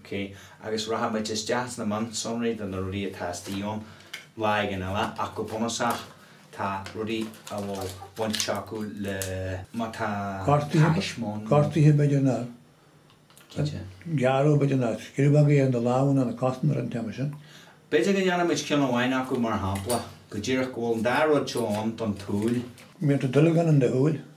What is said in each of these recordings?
OK, agus rachaidh muid isteach sna mionsonraí de na rudaí atá istigh ann lá éigin eile ach go bunúsach tá rudaí a bhfuil baint acu le má tá taisme ann nó. Gortaithe, b'fhéidir, nó gearradh, b'fhéidir, nó scríobadh éigin ar na lámha nó na cosa ar an téama sin. B'fhéidir go ndéanfaidh muid ceann amháin acu, mar shampla, go díreach go bhfuil an dá rud seo ann don tsúil. Má théann duilleog in do shúil.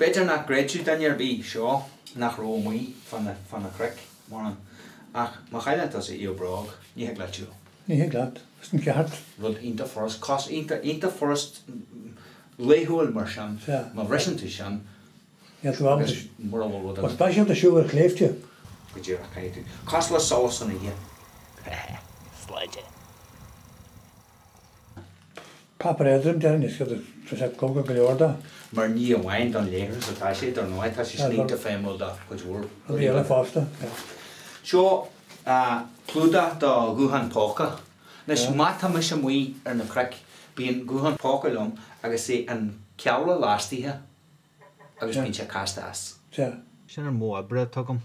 B'fhéidir nach gcreidfeadh duine ar bith seo nach raibh amuigh fá na cnoic mórán, ach má chailleann tusa iall bróige, ní thig leat siúl. Ní thig leat, sin ceart. Rud iontach furast, cás iontach furast laethúil mar sin, má bhriseann tú sin agus mura bhfuil rud. Go speisialta ag siúl ar shléibhte. Go díreach, caithfidh tú. Cosúil le solas san oíche. Sláinte. Páipéar éadrom, deireann is iad atá sé cróga go leor do. Mar ní amháin don leithreas atá sé, dar ndóigh, tá sé iontach feidhmiúil do chuid mhór rudaí eile fosta. Seo clúdach do ghuthán póca. Anois, má tá mise amuigh ar na cnoic, bíonn guthán póca liom agus é an ceallra lastaithe agus bíonn sé casta as. Sin an modh oibre atá agam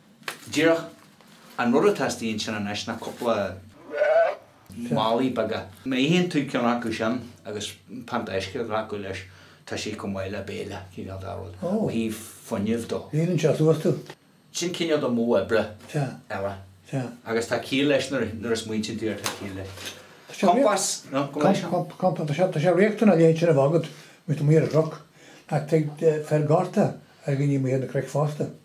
Díreach an rud atá istigh ansin anois ná cúpla málaí beaga. Má itheann tú ceann acu sin agus pionta uisce a ghlacadh leis, tá sé chomh maith le béile, cineál de rud, ó thaobh fuinnimh de. Líonann sé suas tú? Sin cineál de mhodh oibre eile. Agus tá ciall leis nuair a smaointíonn tú air, tá ciall leis. Compás, nó? Go measc? Compás. Tá sé riachtanach é sin a bheith agat amuigh ar an gcnoc. Ach tig féar gorta ar dhaoine amuigh ar na cnoic fosta.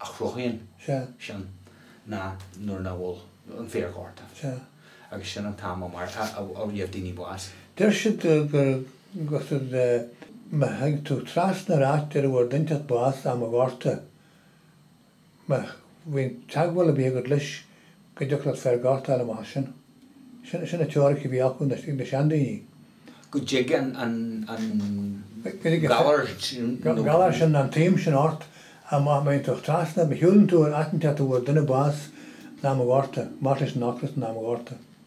a chruthaíonn sin ná nuair nach bhfuil an féar gorta agus sin an t-am a gheibh daoine bás. Deir siad gur cosúil le má théann tú trasna ar áit ar a bhfuair duine inteacht bás am an ghorta, má bhíonn teagmháil ar bith agat leis, go dtiocfadh leat féar gorta a fháil amach ansin. Sin an teoiric a bhí acu, ag na seandaoine. go dtig an galar sin. galar sin an taom sin ort ach má théann tú trasna, má shiúlann tú ar áit inteacht a bhfuair duine bás in am an ghorta, marbh leis an ocras in am an ghorta.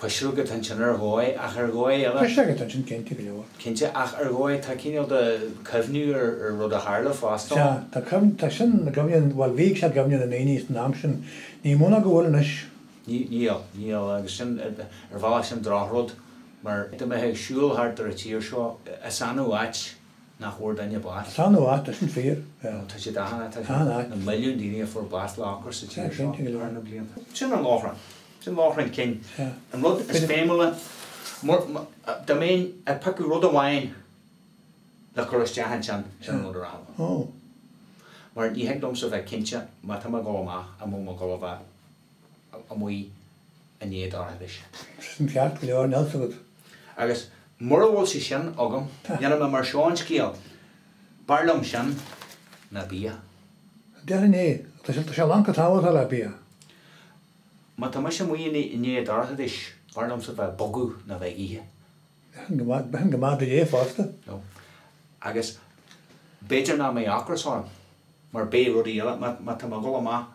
Pisreoga atá ansin ar dhóigh, ach ar dhóigh eile. Pisreoga atá ansin, cinnte go leor. Cinnte, ach ar dhóigh, tá cineál de chuimhneamh ar rud a tharla fosta ann. Sea, tá cuimhneamh, tá sin, i gcuimhne, bhuel, bhíodh sé i gcuimhne na ndaoine san am sin, ní mó ná go bhfuil anois. Níl, níl, agus sin, ar bhealach sin drochrud, mar, dá mbeifeá ag siúl thart ar an tír seo, is annamh áit. nach bhfuair duine bás. Is annamh áit, sin fíor, yeah. Tá sé dathannach, tá sé, na milliúin daoine a fuair bás le ocras sa tír seo thar na blianta. Sin an lóchrann, sin lóchrann cinn. An rud is feidhmiúla, dá mbeinn ag piocadh rud amháin le cur isteach ansin, sin an rud a rachadh ann. Mar ní thig liomsa bheith cinnte má tá mé ag dul amach an bhfuil mé ag dul a bheith, amuigh i ndiaidh an dorchadais. Sin ceart go leor, níl 's agat. Agus mura bhfuil sé sin agam, níl mé, mar seo an scéil, b'fhearr liom sin ná bia. Déarfainn é, tá sé, tá sé lán chomh tábhachtach le bia. Má tá mise amuigh i ndiaidh an dorchadais, b'fhearr liomsa bheith ag bogadh ná bheith ag ithe. Bheadh sin go maith, bheadh sin go maith duit é fosta. No. Agus b'fhéidir nach mbeidh ocras orm, mar beidh rudaí eile, má, má tá mé ag dul amach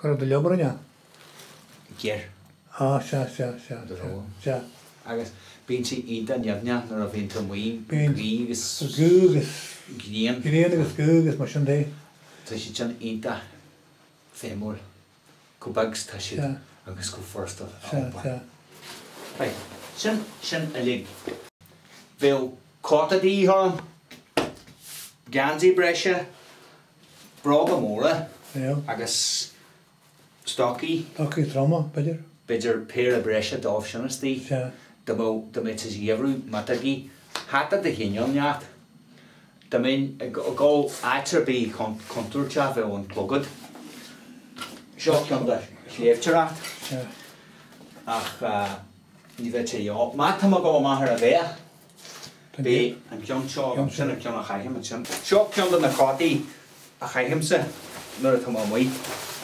Cuir do liobar ina, géar. Á, sea, sea, sea, sea, tirim. sea. Agus bíonn sé iontach nimhneach nuair a bhíonn tú amuigh, Bíonn. gaoth agus Gaoth agus grian. grian agus gaoth agus mar sin de. Tá sé sin iontach feidhmiúil, chomh beag is atá sé Sea. agus chomh furasta a Sea, iompar. sea. Right, sin sin uilig. Bheadh cóta de dhíth orainn, geansaí breise. Bróga móra agus stocaí. Stocaí troma, b'fhéidir. B'fhéidir péire breise daofa sin istigh. Sea. Dá mbeadh sé sa gheimhreadh miotógaí. Hata de chineál inteacht. Dá mbeinn ag dul áit ar bith contúirteach bheadh an clogad. Seo ceann don tsléibhteoireacht. Sea. Ach ní bheadh sé. Má tá mé ag dul amach ar a bith. B'é an ceann seo, sin an ceann a chaithim ansin. Seo ceann de na cótaí a chaithimse nuair atá mé amuigh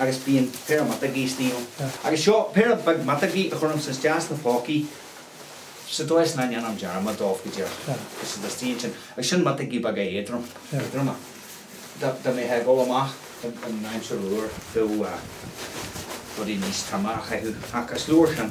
agus bíonn péire miotógaí istigh ann. Agus seo péire beag miotógaí a chuirimse isteach sna pócaí sa dóigh is nach ndéanaim dearmad daofa go díreach tá siad istigh ansin. Agus sin miotógaí beaga éadrom, éadroma dá mbeifeá ag dul amach in aimsir fhuar, bheadh rudaí níos troime á chaitheamh ach is leor sin.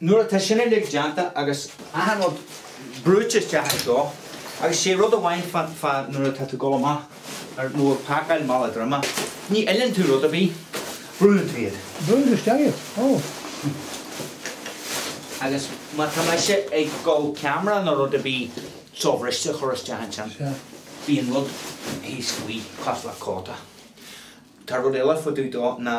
Nuair atá sin uilig déanta agus achan rud brúite isteach anseo, agus sé rud amháin fá fá nuair atá tú ag dul amach ar, nó ag pacáil mála droma, ní fhilleann tú rud ar bith, brúnn tú iad. Brúnn tú isteach iad, ó. Agus má tá mise ag dul ceamara nó rud ar bith sobhriste a chur isteach ansin, bíonn rud thíos faoi, cosúil le cóta. Tá rud eile fá dtaobh dó ná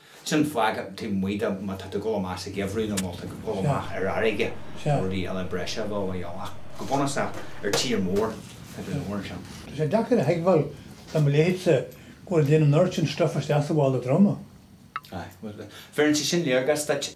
Sin fá go dtig muid do, má tá tú ag dul amach sa gheimhreadh nó má tá tú ag dul amach ar fharraige nó rudaí eile breise a bheadh á dhéanamh. Ach go bunúsach, ar tír mór atá tú mór ansin. Tá sé deacair a thuigbheáil do mo leithéidse go bhfuil tú ag déanamh an oiread sin stuif isteach sa mhála droma. Aye. Bhuel, bheireann sé sin léargas duit.